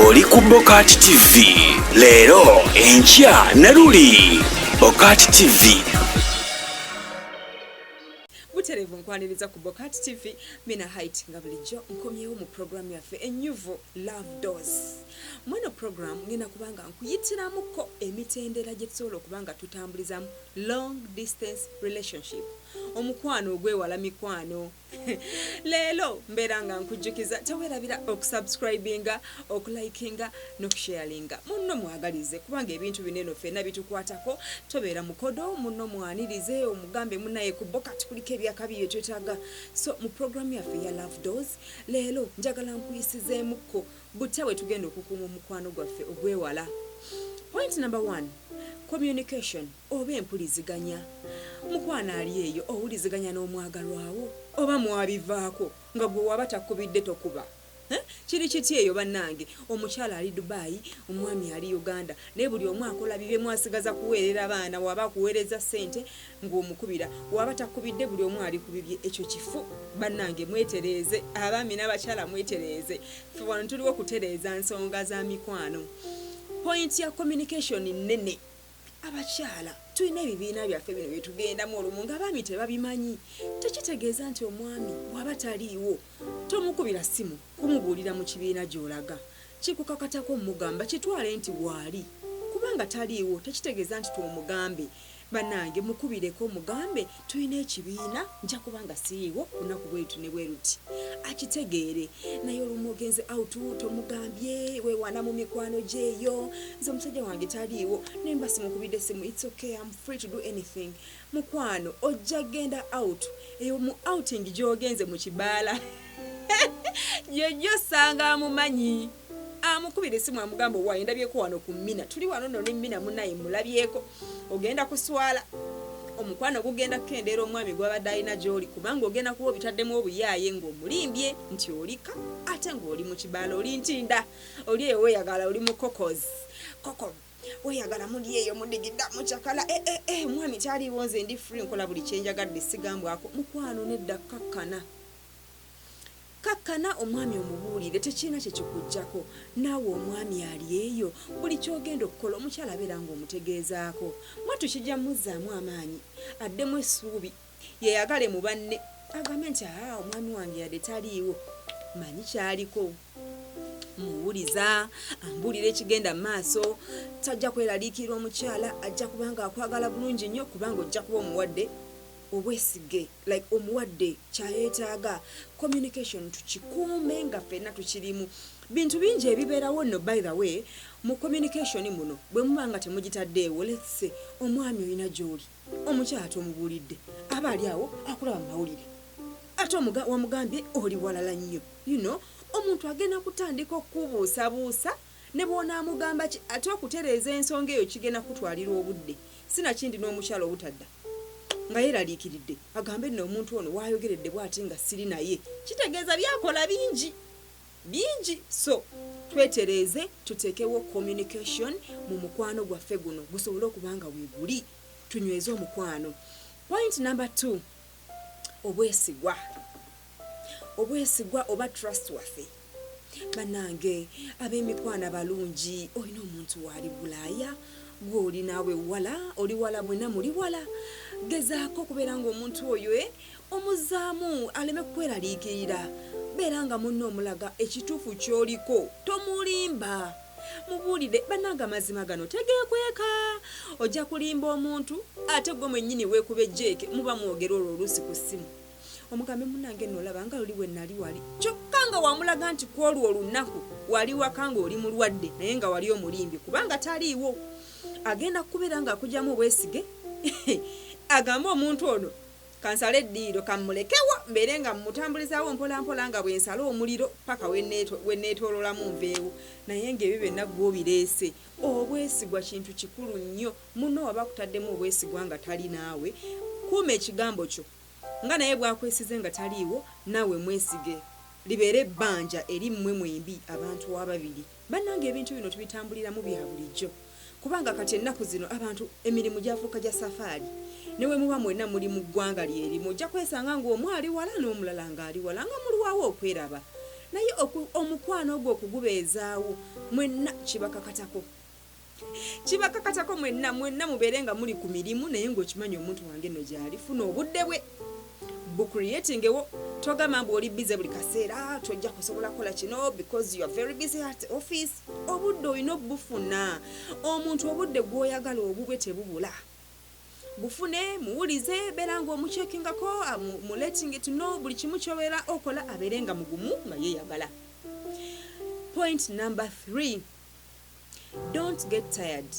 oli ku bokati tv leero enkya ne luli bokati tv buterevu nkwaniriza ku bokati tv mina hait nga bulijjo nkomyewo mu puroguramu yaffe enyuvu love dos mweno puroguramu ngenda kubanga nkuyitiramuko emitendera gye tusobola okuba nga tutambulizamu long distance relationship omukwano ogwewala mikwano leero mbeera nga nkujjukiza tewerabira okusubscribinga okulikinga nokusharinga munno mwagalize kubanga ebintu bineno fena bitukwatako tobeera mukodo munno mwanirize omugambe munaye kubo kati kuliko ebyakabi byetwetaga so mu programu yaffe ya love dos leero njagala nkuyisizeemukko butya bwe tugenda okukuuma omukwano gwaffe ogwewala point number one communication Oba empuliziganya. Mukwano ali eyo owuliziganya n'omwagalwa wo? Oba mwabivaako nga gwe waba takubidde tokuba eh kiri kitya eyo banange omukyala ali Dubai omwami ali Uganda naye buli omu akola bibye mwasigaza kuweerera baana waba akuweerezza sente nga omukubira waba takubidde buli omu ali ku bibye ekyo kifu banange mwetereeze abaami n'abakyala mwetereeze ffe wano tuliwo kutereeza nsonga za mikwano point ya communication nnene. Abakyala tulina ebibiina byaffe bino bye tugendamu olumu ng'abaami tebabimanyi. Tekitegeeza nti omwami bw'aba taliiwo tomukubira ssimu kumubuulira mu kibiina gy'olaga. Kikukakatako omugamba kitwale nti waali. Kubanga taliiwo tekitegeeza nti twomugambe. Bannange mukubireko omugambe Tulina ekibiina nja kuba nga siriiwo ku lunaku bwe luti ne bwe luti, akitegeere. Naye olumu ogenze out, tomugambye, weewaana mu mikwano gyo eyo. Nze omusajja wange taliiwo, ne mba simukubidde ssimu. It's ok, am free to do anything. Mukwano, ojja kugenda out. Eyo mu outing gy'ogenze mu kibaala, gy'ojja osanga amumanyi. amukubira esimu amugamba owaye ndabyeko wano ku mina tuli wano no ne mina munaye mulabyeko ogenda kuswala omukwano gugenda kukendeera omwami gwabadde alina gyoli kubanga ogenda kuba obitaddemu obuyaaye ng'omulimbye nti olika ate ng'oli mu kibaala oli ntinda oli eyo weyagala oli mu kokos koko weyagala muli eyo mudigida mucakala ee eh, eh, eh, omwami taliiwo nze ndi free nkola buli kyenjagadde sigambwako mukwano nedda kkakkana Kkakkana omwami omubuulire tekirina kye kikuggyako. Naawe omwami ali eyo, buli ky'ogenda okukola omukyala beera ng'omutegeezaako. Mwattu kijja mmuzzaamu amaanyi addemu essuubi yeeyagale mu banne agambe nti, Haa omwami wange yadde taliiwo mmanyi ky'aliko. Mmuwuliza, ambuulira ekigenda mu maaso. Tajja kweraliikirira omukyala ajja kuba ng'akwagala bulungi nnyo kubanga ojja kuba omuwadde. obwesige like omuwadde kyayetaaga communication tukikuume nga fenna tukirimu bintu bingi ebiberawo no by the way mu communication muno bwemuba nga temugitaddeewo let's say omwami olina gyoli omukyala tomubulidde aba ali awo akulaba mu mawulire ate omuga wamugambye oli walala nnyo you know omuntu agenda kutandika okukubuusabuusa Ne bw'onaamugamba ki, ate okutereeza ensonga eyo kigenda kukutwalira obudde. Sinakindi n'omukyala obutadda nga yeeraliikiridde, agambe nno omuntu ono w'ayogeredde bw'ati nga siri naye, kitegeeza by'akola bingi, bingi. So, twetereeze tuteekewo communication mu mukwano gwaffe guno gusobole okuba nga weeguli, tunyweze omukwano. Point number two, obwesigwa. Obwesigwa oba trust wafe. Banange abemikwano abalungi olina omuntu waali bulaaya gwoli naawe wala oli wala mwena muli wala gezaako okubeera nga omuntu oyo e omuzaamu aleme kukweraliikirira beera nga munno omulaga ekituufu kyoliko tomulimba mubuulire banange amazima gano tegekweka ojja kulimba omuntu ate gwe mwennyini weekuba ejjeeke muba mwogera olwo oluusi ku ssimu omugambe munange no olaba nga luli wenali wali kyokka nga wamulaga nti kwolwo olunaku wali waka nga oli mulwadde naye nga wali omulimbye kubanga taliiwo agenda kukubeera nga akujamu obwesige agambe omuntu ono kansale eddiiro kammulekewo mbeere nga mmutambulizaawo mpolampola nga bwe nsala omuliro paka weneetoololamu nveewo naye ngaebyo byonna gwobireese obwesigwa kintu kikulu nnyo muno waba akutaddemu obwesigwa nga tali naawe kuuma ekigambo kyo Nga naye bwakwesize nga taliiwo naawe mwesige libeere ebbanja eri mmwe mwembi abantu ababiri. Bannange ebintu bino tubitambuliramu bya bulijjo kubanga kati ennaku zino abantu emirimu gyafuuka gya safaali. Ne bwe muba mwenna muli mu ggwanga lye limu ojja kwesanga ng'omu ali wala n'omulala ng'ali wala nga mulwawo okweraba naye omukwano ogwo okugubeezaawo mwenna kibakakatako. Kibakakatako mwenna, mwenna mubeere nga muli ku mirimu naye nga okimanyi omuntu wange nno gyali, funa obudde bwe bu creatingewo, togamba mbu oli busy buli kaseera tojja kusobola kukola kino because you are very busy at office, obudde olina obufuna, omuntu obudde gwoyagala obubwe tebubula, bufune, muwulize, beera nga omuchekingako, mu letting it know buli kimu kyobeera okola abeere nga mugumu nga yeyagala. Point number three. Don't get tired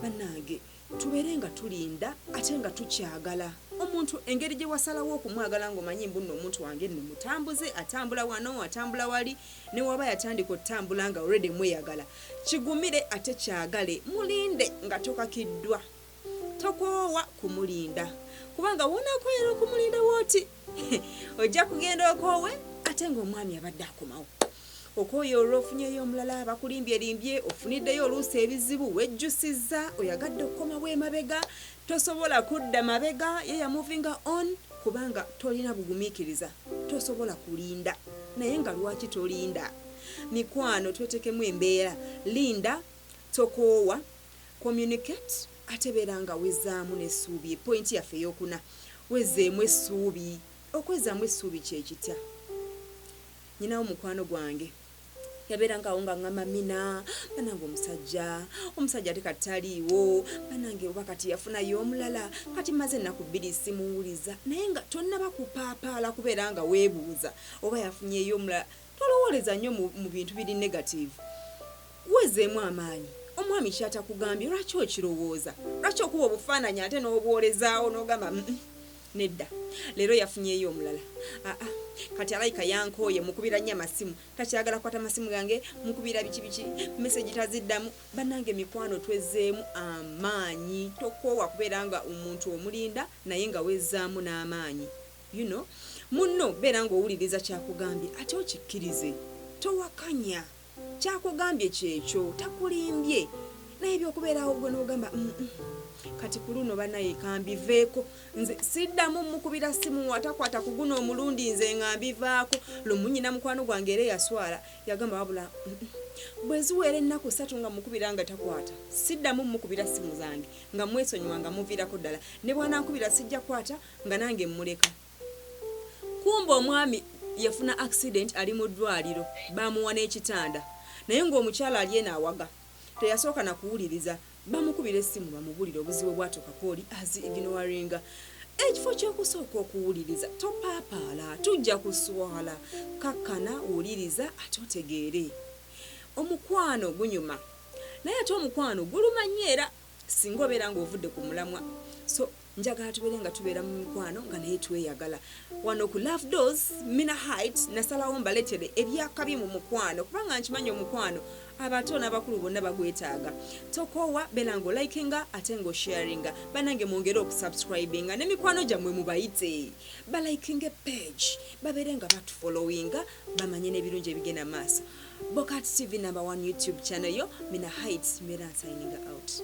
banange tubeere nga tulinda ate nga tukyagala omuntu engeri gyewasalawo okumwagala nga omanyi mbu nno omuntu wange nno mutambuze atambula wano atambula wali newaba yatandika otambula nga already mweyagala kigumire ate kyagale mulinde nga tokakiddwa tokoowa kumulinda kubanga wonakoyera okumulinda wooti ojja kugenda okoowe ate ngaomwami abadde akomawo okwoyo olwofunyeyo omulala abakulimbyelimbye ofuniddeyo oluusi ebizibu wejjusiza oyagadde okukomawo emabega tosobola kudda mabega ye yamuvinga on kubanga tolina bugumikiriza tosobola kulinda naye nga lwaki tolinda mikwano twetekemu embeera linda tokoowa Communicate ate beera nga wezaamu n'essuubi ye point yaffe ey'okuna. Wezeemu essuubi. Okwezaamu essuubi kye kitya? Nyinawo mukwano gwange yabeeranga awo nga ngamba mina banange omusajja omusajja ate kati taliiwo banange oba kati yafunayo omulala kati maze ennaku bbiri simuwuliza naye nga tonnaba kupaapaala kubeera nga weebuuza oba yafunyeyo omulala tolowooleza nnyo mu bintu biri negative Wezeemu amaanyi omwami kyatakugambye lwaki okirowooza lwaki okuba obufaananyi ate nobwolezaawo nogamba mm nedda leero yafunyeeyo omulala aa kati alayika yankooye mukubira nnyo amasimu takyagala kukwata masimu gange mukubira biki biki message taziddamu banange mikwano twezeemu amaanyi tokoowa kubeera nga omuntu omulinda naye nga wezzaamu n'amaanyi you know munno beera nga owuliriza kyakugambye ate okikkirize towakanya Kyakugambye kyekyo takulimbye naye ebyokubeera awo gwe nogamba uhmm kati kuluno banaye kambiveeko nze siddamu mukubira ssimu atakwata kuguno omulundi nze nga mbivaako lumu nyina mukwano gwange era eyaswala yagamba wabula uhmm bweziweera ennaku ssatu nga mukubira nga takwata siddamu mukubira ssimu zange nga mwesonyiwa nga muviirako ddala nebwanankubira sijja kwata nga nange mmuleka Kumbe omwami yafuna accident ali mu ddwaliro baamuwa n'ekitanda naye ng'omukyala ali eno awaga teyasooka na kuwuliriza bamukubira essimu bamubulire obuzibu obwatuukako oli azi ignoringa ekifo ky'okusooka okuwuliriza topaapaala tujja kuswala kakkana wuliriza ate otegeere omukwano gunyuma naye ate omukwano guluma nnyo era singa obeera ng'ovudde ku mulamwa so Njagala tubeere nga tubeera mu mikwano nga naye tweyagala. Wano ku Love Doors Mina Height nasalawo mbaletere ebyakabi mu mukwano kubanga nkimanyi omukwano abato n'abakulu bonna bagwetaaga. Tokoowa beera nga olikinga ate nga osharinga. Banange mwongere okusubscribinga ne mikwano gyammwe mubayite balikinge page babeere nga batufollowinga bamanye n'ebirungi ebigenda mu maaso. Bokat TV number one YouTube channel yo Mina Heights Mera signing out.